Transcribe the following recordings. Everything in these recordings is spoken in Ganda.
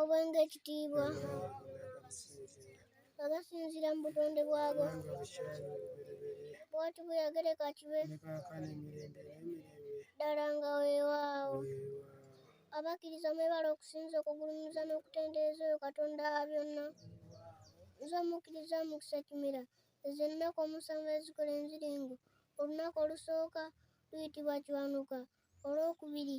obwenge ekitiibwa nga gasinziira mu butonde bwago bwatu buyagereka kibe ddala nga weewaawo abakkiriza mwebala okusinza okugulumiza n'okutendereza oyo katonda wa byonna nze omukkiriza mukisa kimera ezo ennaku omusanvu ezikola enziringo olunaku olusooka luyitibwa kiwanuka olwokubiri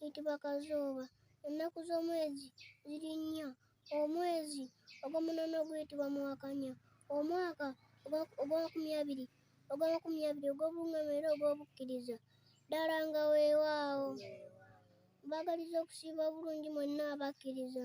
eyitibwa kazooba ennaku z'omwezi ziri nnya omwezi ogw'omunono guyitibwa muwakanya omwaka ogw'amakumi abiri ogw'amakumi abiri ogw'obungama era ogw'obukkiriza ddala nga weewaawo mbagaliza okusiiba obulungi mwenna abakkiriza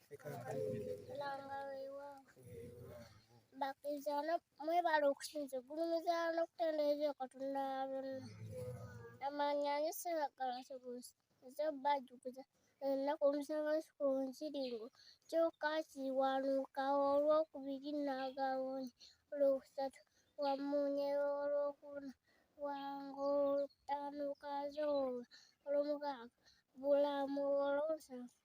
langa weewaawo bakiriza no mwebale okusinza ogulumiza n'okutendereza katonda wa bonna amaanyi anyo siragala sobuusi nze bajjukiza ennaku omusangansi ku nsiringo kyokka kiwanuukawo olwokubiri n'agawonya olwokusatu wamunyera olwokuna wango olwokutaano kazooba olwomukaaga bulamu olwomusanvu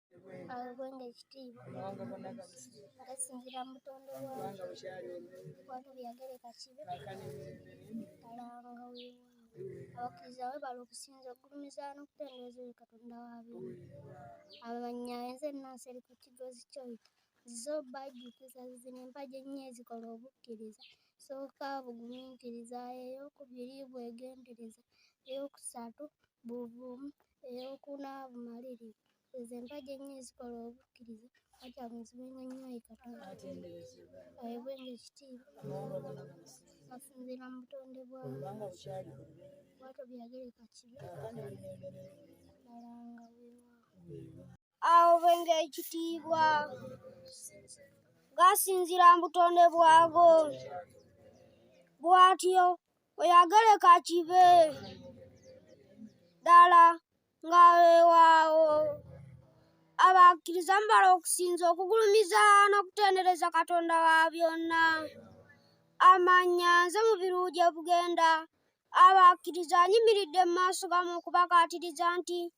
agwenga ekitiibwa ngasingira mutondo wange watu byagere kakibe kalanga wewa abakkiriza webala okusinza okugulumiza n'okutendereza oyo katonda wabiri abamanya enze ennansi eri ku kigozi kyoyita zizo bajjukiza zizina empagi ennyo ezikola obukkiriza sooka bugumiikiriza ey'okubiri bwegendereza ey'okusatu buvumu ey'okuna bumaliri ezo empagi ennyo ezikola obukkiriza ati agunzibenga nnyo ayi katonda ayebwenga ekitiibwa asinziira mu butonde bwawe bwatyo byagereka kibi ddala nga weewaawo aobenga ekitiibwa gasinzira mu butonde bwago bwatyo oyagale kakibe ddala nga wewaawo abakkiriza mubala okusinza okugulumiza n'okutendereza katonda wa byonna amanya nze mu biruwu gye bugenda abakkiriza anyimiridde mu maaso gamu okubakaatiriza nti